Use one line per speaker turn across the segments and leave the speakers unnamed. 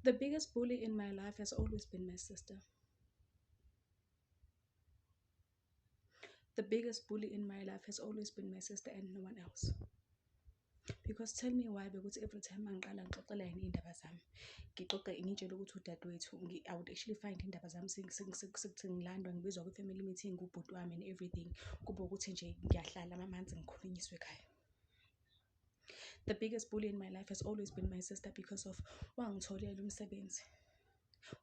The biggest bully in my life has always been my sister. The biggest bully in my life has always been my sister and no one else. Because tell me why because every time angiqala ngixoxela yena iy'ndaba zami ngixoxe ngitshele ukuthi udadewethu I would actually find iy'ndaba zami sekuthi ngilandwa ngibizwa kwi-family meeting kubhuti wami and everything kube ukuthi nje ngiyahlala amamanzi ngikhulunyiswe ekhaya The biggest bully in my life has always been my sister because of wangitholela umsebenzi.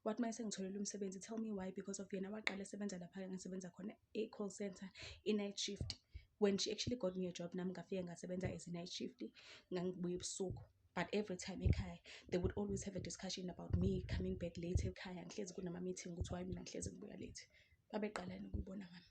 Wathi uma esengitholele umsebenzi tell me why because of yena waqala esebenza lapha engisebenza khona e-call center i-night shift when she actually got me a job nami ngafike ngasebenza as i-night shift ngangibuya ebusuku but every time ekhaya they would always have a discussion about me coming back late ekhaya ngihlezi kunama-meeting ukuthi why mina ngihlezi ngibuya late babeqalani ukuyibona ngami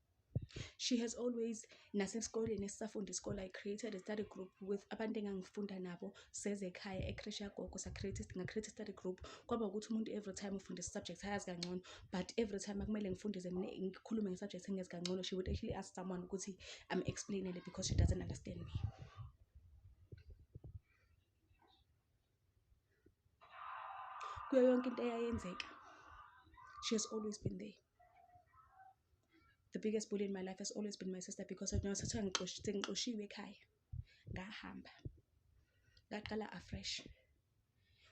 she has always nasesikoleni esisafunda isikole i created a study group with abantu engangifunda nabo seze ekhaya ecresh yagogo ngacreate study group kwaba ukuthi umuntu every time ufundisa subject ayazi kangcono but every time akumele ngifundise mina ngikhulume ngesubject engezi kangcono she would actually ask someone ukuthi am explainele because she doesn't understand me kuyo yonke into eyayenzeka she has always been there The biggest bully in my life has always been my sister because nasethiwa ngixoshiwe ekhaya ngahamba ngaqala afresh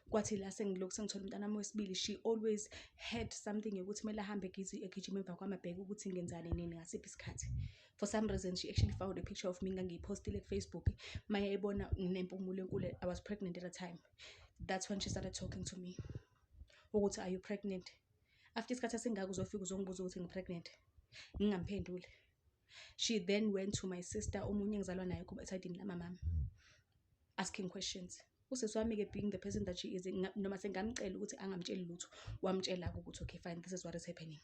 kwathi la sengilokhu sengithola umntanami wesibili she always had something yokuthi kumele ahambe egijima emva kwami abheke ukuthi ngenzani nini ngasiphi isikhathi for some reason she actually found a picture of me ngangiyiphostile kufacebook maye ebona nginempumulo enkulu i was pregnant at a time that's when she started talking to me ukuthi are you pregnant after isikhathi esingaka uzofika uzongibuza ukuthi ngi-pregnant ngingamphenduli she then went to my sister omunye engizalwa naye kuba esayidini lamamami asking questions usisi wami-ke being the person that she is nga- noma sengamcela ukuthi angamtsheli lutho wamtshela-ke ukuthi okay fine this is what is happening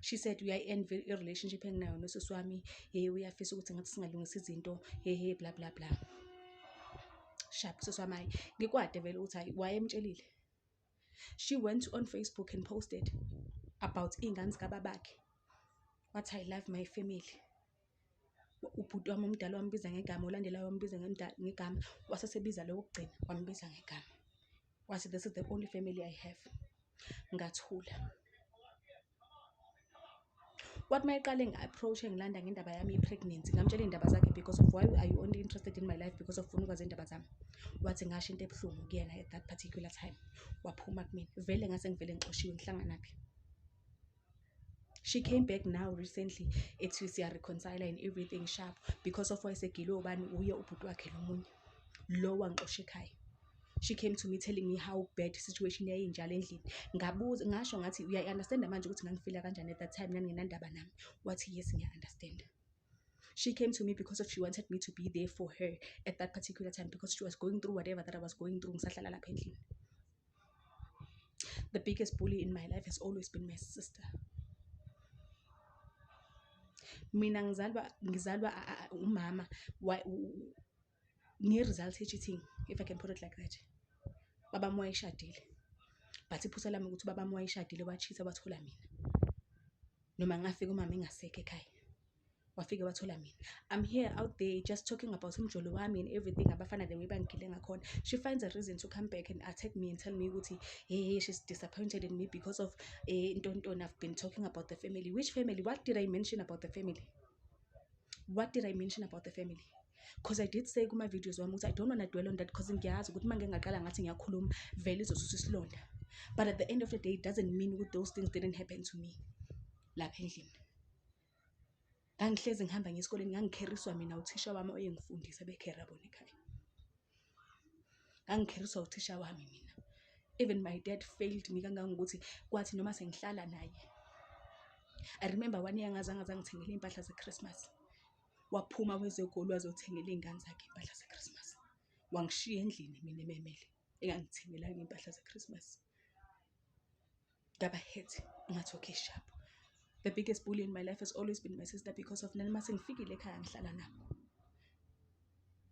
she said uyayi-envy i-relationship enginayo nosisi wami hey uyafisa ukuthi ngathi singalungisa izinto hey hey bla bla bla sharp usisi wami hayi ngikwade vele ukuthi hayi wayemtshelile she went on facebook and posted about iy'ngane zikababakhe wathi i love my family ubhuti wami omdala wambiza ngegama olandelayo wambiza ngegama wasesebiza lo wokugcina wambiza ngegama wathi this is the only family i have ngathula kwathi uma eqale ngi-approach-e ngilanda ngendaba yami ye-pregnancy ngamtshela iy'ndaba zakhe because of why are you only interested in my life because of funa ukwazi iy'ndaba zami wathi ngasho into ebuhlungu kuyena at that particular time waphuma kumina vele ngase ngivele ngixoshiwe ngihlanganaphi she came back now recently ethi siyareconcile and everything sharp because of wayesegilwe ubani uye ubhuti wakhe lomunye lo wangixosha ekhaya she came to me telling me how bad situation yayinjalo endlini ngabuza ngasho ngathi uyayi-understanda manje ukuthi ngangifila kanjani at that time naningenandaba nami wathi yes ngiya-understanda she came to me because of she wanted me to be there for her at that particular time because she was going through whatever that i was going through ngisahlala lapha endlini the biggest bully in my life has always been my sister mina ngizalwa ngizalwa umama nge-result ye-cheating if i can put it like that baba wami wayeshadile but iphutha lami ukuthi baba wami wayeshadile wachitha wathola mina noma ngafika umama engasekho ekhaya wafike wathola mina i'm here out there just talking about umjolo wami and everything abafana the way bangigile ngakhona she finds a reason to come back and attack me and tell me ukuthi hey she's disappointed in me because of eh, ntontoni i've been talking about the family which family what did i mention about the family what did i mention about the family because i did say kuma-videos wami ukuthi i don't wanna dwell on that because ngiyazi ukuthi uma ngingaqala ngathi ngiyakhuluma vele izosusa isilonda but at the end of the day it doesn't mean ukuthi those things didn't happen to me lapha endlini ngangihlezi ngihamba ngesikoleni ngangikheriswa mina uthisha wami oyengifundisa bekhera bona ekhaya ngangikheriswa uthisha wami mina even my dad failed me kangangokuthi kwathi noma sengihlala naye i remember one year ngazange zangithengela iy'mpahla ze-christmas waphuma kwezegoli wazothengela iy'ngane zakhe iy'mpahla ze-christmas wangishiya endlini mina ememele engangithengelanga iy'mpahla ze-christmas ngaba hurt ngathi okay sharp the biggest bully in my life has always been my sister because of nani mase ngifikile ekhaya ngihlala nabo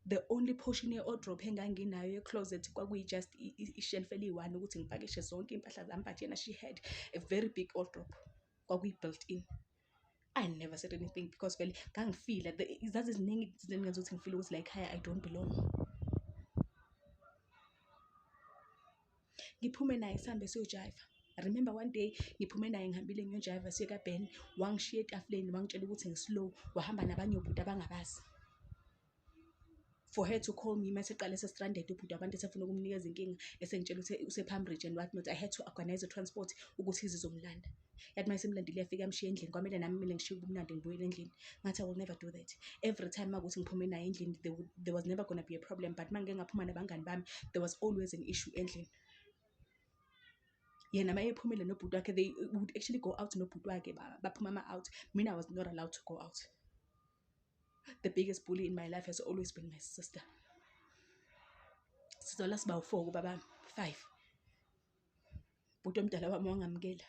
the only portion ye-odrop enganginayo ye-closet kwakuyi-just ishelf eliyi-one ukuthi ngipakishe zonke iy'mpahla zami but yena she had a very big odrop kwakuyi-built in I never said anything because vele ngangifila zaziziningi izinto engenza ukuthi ngifile ukuthi la ekhaya I don't belong. Ngiphume naye sihambe siyojayiva. Remember one day ngiphume naye ngihambile ngiyojayiva siye kaBen, wangishiya etafuleni wangitshela ukuthi ngi-slow, wahamba nabanye obhuti abangabazi. for her to call me mase qale sestranded ubhuti abantu esefuna ukumnikeza inkinga esengitshela ukuthi usepalm ridge and what not i had to organize a transport ukuthi izizomlanda yathi uma isemlandile iyafika yamshiya endlini kwamele nami mina ngishiye ubumnandi ngibuyele endlini ngathi i will never do that every time makuthi ngiphume naye endlini there, would- there was never gonna be a problem but uma ngike ngaphuma nabangani bami there was always an issue endlini yena uma ephumile nobhuti wakhe they would actually go out nobhuti wakhe ba- baphuma ama-out mina i was not allowed to go out the biggest bully in my life has always been my sister sizola siba u-four kubaba five bhuti omdala wami wangamukela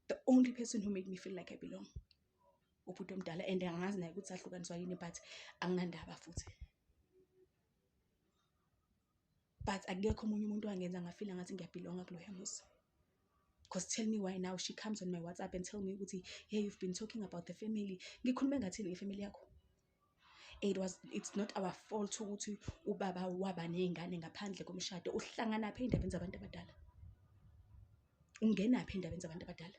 the only person who made me feel like i belong ubhuti omdala and angazi naye ukuthi ahlukaniswa yini but anginandaba futhi but akekho omunye umuntu wangenza ngafila ngathi ngiyabhilonga kuloya muzi Cause tell me why now she comes on my WhatsApp and tell me ukuthi hey you've been talking about the family. Ngikhulume ngathini ngefamily yakho? It was it's not our fault ukuthi ubaba waba nezingane ngaphandle komshado. Uhlangana phi endabeni zabantu abadala? Ungena phi endabeni zabantu abadala?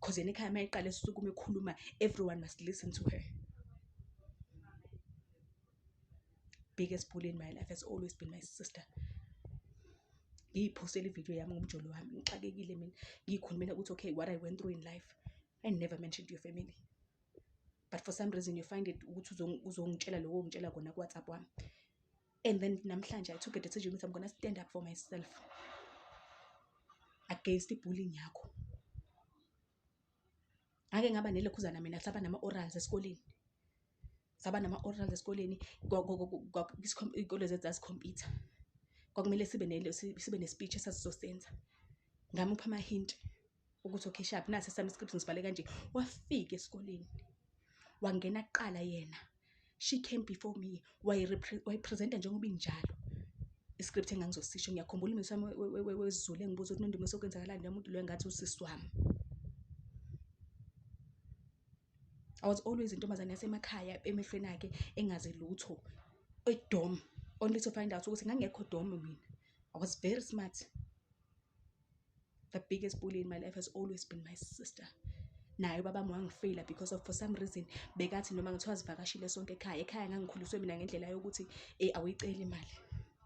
Cause yena ekhaya uma eqala esukuma ekhuluma everyone must listen to her. Biggest bully in my life has always been my sister. Ngiyiphosela ividiyo yami ngomjolo wami ngixakekile mina ngiyikhulumela ukuthi okay what I went through in life I never mentioned your family but for some reason you find it ukuthi uzongitshela lokho ongitshela kona kuwhatsapp wami and then namhlanje i took a decision ukuthi i'm gonna stand up for myself against ibullying yakho ngake ngaba nelokhuzana mina saba nama-orals esikoleni saba nama-orals esikoleni iy'kole zethu zasikhompyutha kwakumele sibe sibe ne-speech esasizosenza ngamupha amahinti ukuthi okhishaphi nasi esami iscript ngisibhale kanje wafika esikoleni wangena kuqala yena she came before me wayipresenta njengoba injalo iscript engangizosisho ngiyakhumbula umisi wami wezulu engibuza ukuthi nondumiso okwenzakalani nomuntu loyo ngathi usisi wami I was always intombazane yasemakhaya emehlweni akhe engazi lutho edom only to find out ukuthi ngangekho dom mina I was very smart the biggest bully in my life has always been my sister naye ubabami wangifeyila because of for some reason bekathi noma ngithiwa zivakashile sonke ekhaya ekhaya ngangikhuliswe mina ngendlela yokuthi um awuyiceli imali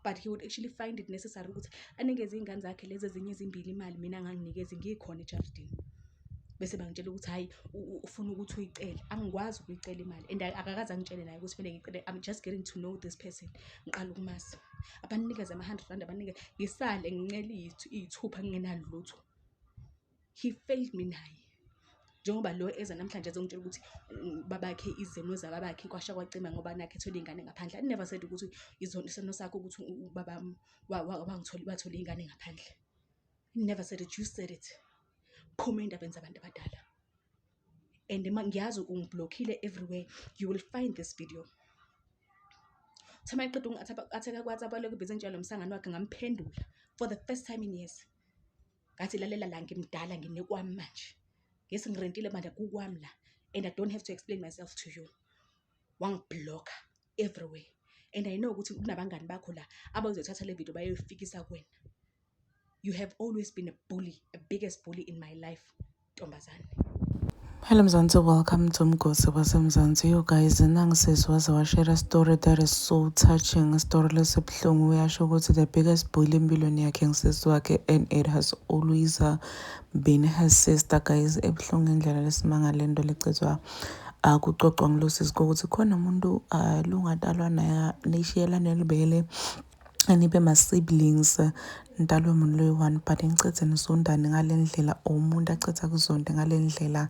but he would actually find it necessary ukuthi anikeze iy'ngane zakhe lezi ezinye ezimbili imali mina nganginikezi ngikhona ejardini bese bangitshela ukuthi hhayi ufuna ukuthi uyicele angikwazi ukuyicela imali and akakaze angitshele naye ukuthi kumele ngicele i'm just getting to know this person ngiqala ukumazi abanikeze ama-hundred rand abanikeze ngisale ngincele iyithu- iyithupha ngingenalutho he failed me naye njengoba lo eza namhlanje ezongitshela ukuthi mm, babakhe izimo zababakhe kwasha kwacima ngoba nakhe ethole iy'ngane ngaphandle i never said ukuthi izono isono sakho ukuthi u- u- ubaba wami wa- wa- wangitholi- wathole iy'ngane ngaphandle I never said it you said it phuma endabeni zabantu abadala and ngiyazi ungiblokhile everywhere you will find this video thema iqeda ungatheka kwathi abalokhu bezenjalo msangano wakhe ngamphendula for the first time in years ngathi lalela la ngimdala nginekwami manje ngesi ngirentile manje kukwami la and i don't have to explain myself to you wangibloka everywhere and i know ukuthi kunabangani bakho la abazothatha le video bayoyifikisa kwena you have always been a bully a biggest bully in my life ntombazane Hello
Mzansi, welcome to Mgosi waseMzansi. You guys, nangisisi waze washare story that is so touching. Story lesibuhlungu uyasho ukuthi the biggest bully empilweni yakhe ngisisi wakhe and it has always uh, been her sister guys. Ebuhlungu indlela lesimanga lento lecizwa akuxoxwa ngilosisi kokuthi khona umuntu uh, lungatalwa naye nishiyelane libele anibe ma siblings nidalwe umuntu loyi-one but nicithe nizondane ngale ndlela or umuntu acitha kuzonde ngale ndlela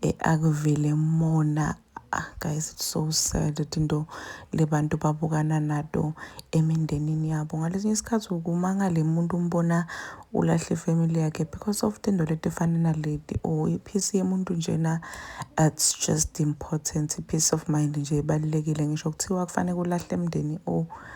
eh, akuvele mona ah, guys it's so sad into le bantu babukana nato emindenini yabo ngalesinye isikhathi ukumangale umuntu umbona ulahle ifamily yakhe because of tinto letifana naleti or iphisi yemuntu njena it's just important i-peace of mind nje ibalulekile ngisho kuthiwa kufanele kulahle emndeni or oh,